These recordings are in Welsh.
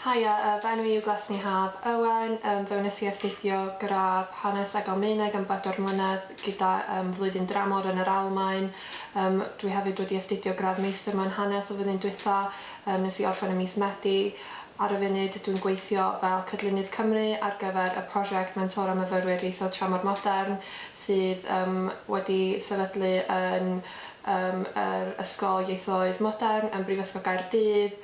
Haia, yy fy enw i yw Glesni Haf Owen, yym fe wnes i astudio gradd Hanes ag Almaeneg am bedwar mlynedd gyda yym flwyddyn dramor yn yr Almaen, yym dwi hefyd wedi astudio gradd Meistr mewn Hanes y flwyddyn dwytha, yym nes i orffen ym mis Medi. Ar y funud dwi'n gweithio fel Cydlynydd Cymru ar gyfer y prosiect Mentora Myfyrwyr Ieithoedd Tramor Modern sydd yym wedi sefydlu yn yym yr Ysgol Ieithoedd Modern yn Brifysgol Gaerdydd.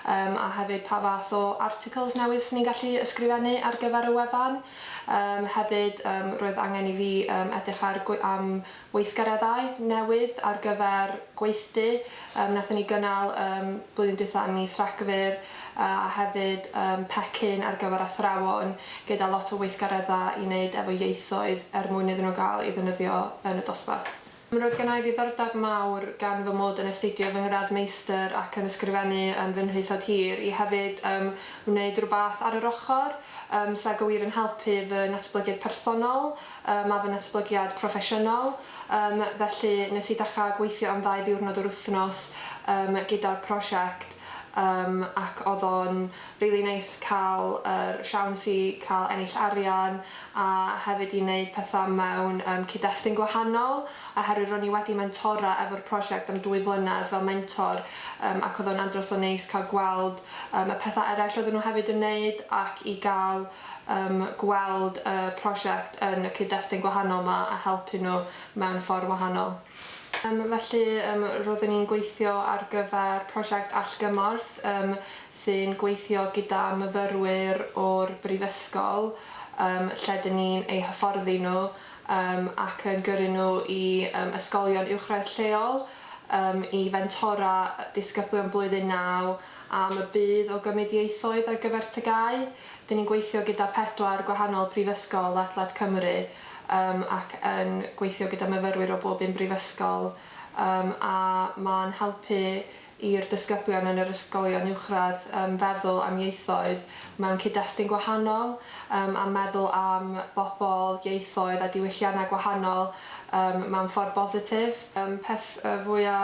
Yym a hefyd pa fath o articles newydd swn i'n gallu ysgrifennu ar gyfer y wefan. Yym hefyd yym roedd angen i fi yym edrych ar gwe- am weithgareddau newydd ar gyfer gweithdy yym nathon ni gynnal yym blwyddyn dwytha ym mis Rhagfyr yy a hefyd yym pecyn ar gyfer athrawon gyda lot o weithgaredda i neud efo ieithoedd er mwyn iddyn nhw ga'l i ddefnyddio yn y dosbarth. Roedd gennai ddiddordeb mawr gan fy mod yn astudio fy ngradd Meistr ac yn ysgrifennu yn fy nhraethawd hir, i hefyd yym wneud rhywbeth ar yr ochr, yym sa go wir yn helpu fy natblygiad personol yym a fy natblygiad proffesiynol, yym felly nes i ddechrau gweithio am ddau ddiwrnod yr wythnos yym gyda'r prosiect. Yym ac odd o'n rili neis ca'l yr siawns i ca'l ennill arian a hefyd i neud petha mewn yym cyd-destun gwahanol oherwydd ro'n i wedi mentora efo'r prosiect am dwy flynedd fel mentor yym ac odd o'n andros o neis ca'l gweld yym y petha eraill oedden nhw hefyd yn neud ac i ga'l yym gweld y prosiect yn y cyd-destun gwahanol ma a helpu nhw mewn ffor wahanol. Felly, roeddwn i'n gweithio ar gyfer prosiect allgymorth sy'n gweithio gyda myfyrwyr o'r brifysgol lle dŷn ni'n eu hyfforddi nhw ac yn gyrru nhw i ysgolion uwchradd lleol i fentora disgyblion blwyddyn naw am y budd o gymryd ieithoedd ar gyfer TGAU. Dŷn ni'n gweithio gyda pedwar gwahanol brifysgol ledled Cymru. Yym ac yn gweithio gyda myfyrwyr o bob un brifysgol yym a ma'n helpu i'r disgyblion yn yr ysgolion uwchradd yym feddwl am ieithoedd mewn cyd-destun gwahanol yym a meddwl am bobl, ieithoedd a diwylliannau gwahanol yym mewn ffordd bositif. Yym peth y fwya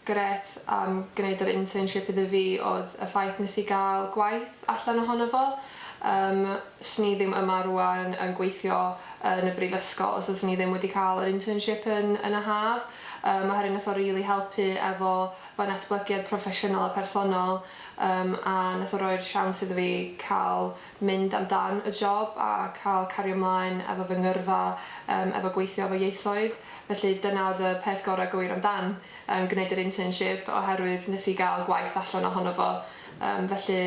grêt am gneud yr internship iddo fi oedd y ffaith nes i gael gwaith allan ohono fo. Yym, 'swn i ddim yma rŵan yn gweithio yn y brifysgol os fyswn i ddim wedi cael yr internship yn yn y haf, yym, oherwydd nath o rili helpu efo fy natblygiad proffesiynol a personol, yym, a nath o roi'r siawns iddo fi ca'l mynd am dan y job a cael cario mlaen efo fy ngyrfa yym efo gweithio efo ieithoedd, felly dyna oedd y peth gorau go wir amdan yym gwneud yr internship oherwydd nes i gael gwaith allan ohono fo yym felly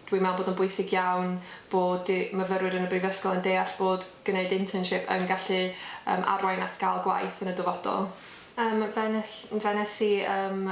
dwi'n meddwl bod o'n bwysig iawn bod y myfyrwyr yn y brifysgol yn deall bod gwneud internship yn gallu yym arwain at gael gwaith yn y dyfodol. Yym fe nes fe nes i yym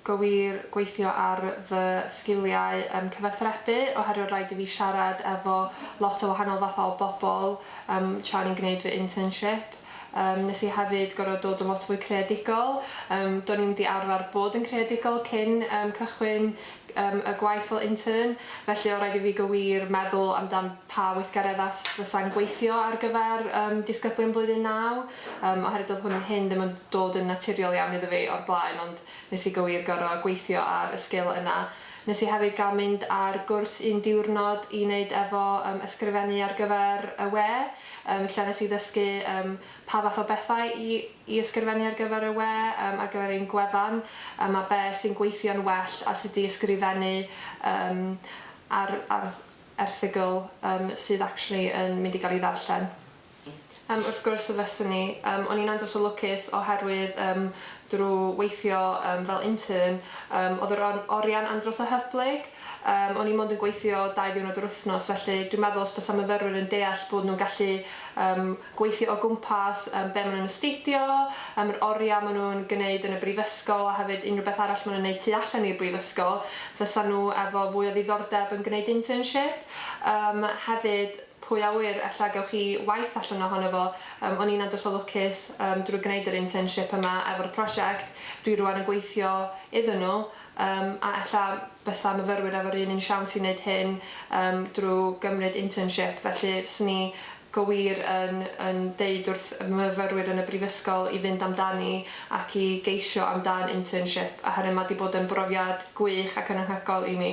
Gywir, gweithio ar fy sgiliau yym cyfathrebu oherwydd oedd rhaid i fi siarad efo lot o wahanol fathau o bobl yym tra o'n i'n gwneud fy internship. Yym wnes i hefyd gorfod dod yn lot fwy creadigol, yym do'n i'm 'di arfer bod yn creadigol cyn yym cychwyn yym y gwaith fel intern, felly oedd rhaid i fi gywir meddwl amdan pa weithgareddau fysa'n gweithio ar gyfer yym disgyblion blwyddyn naw. Yym, oherwydd doedd hwn hyn ddim yn dod yn naturiol iawn iddo fi o'r blaen ond nes i gywir gor'o' gweithio ar y sgil yna. Nes i hefyd ga'l mynd ar gwrs un diwrnod i neud efo yym ysgrifennu ar gyfer y we yym lle nes i ddysgu yym pa fath o bethau i i ysgrifennu ar gyfer y we yym ar gyfer ein gwefan yym a be' sy'n gweithio'n well a sut i ysgrifennu yym ar ar erthygl yym sydd actually yn mynd i gael ei ddarllen. Yym wrth gwrs y fyswn i. Yym o'n i'n andros o lwcus oherwydd yym drw weithio yym fel intern yym oedd yr or- orian andros o hyblyg. Yym o'n i mond yn gweithio dau ddiwrnod yr wythnos felly dwi'n meddwl os bysa myfyrwyr yn deall bod nhw'n gallu yym gweithio o gwmpas yym be' ma' nhw'n astudio, yym yr oriau ma' nhw'n gneud yn y brifysgol a hefyd unrhyw beth arall ma' nhw'n neud tu allan i'r brifysgol, fysa nhw efo fwy o ddiddordeb yn gneud internship? Yym hefyd, pwy a ŵyr, ella gewch chi waith allan ohono fo. Yym o'n i'n andros o lwcus yym drwy gneud yr internship yma efo'r prosiect dwi rŵan yn gweithio iddyn nhw yym a ella bysa myfyrwyr efo'r un un siawns i neud hyn yym drwy gymryd internship felly fyswn i go wir yn yn deud wrth y myfyrwyr yn y brifysgol i fynd amdani ac i geisio amdan internship oherwydd ma' 'di bod yn brofiad gwych ac yn anhygoel i mi.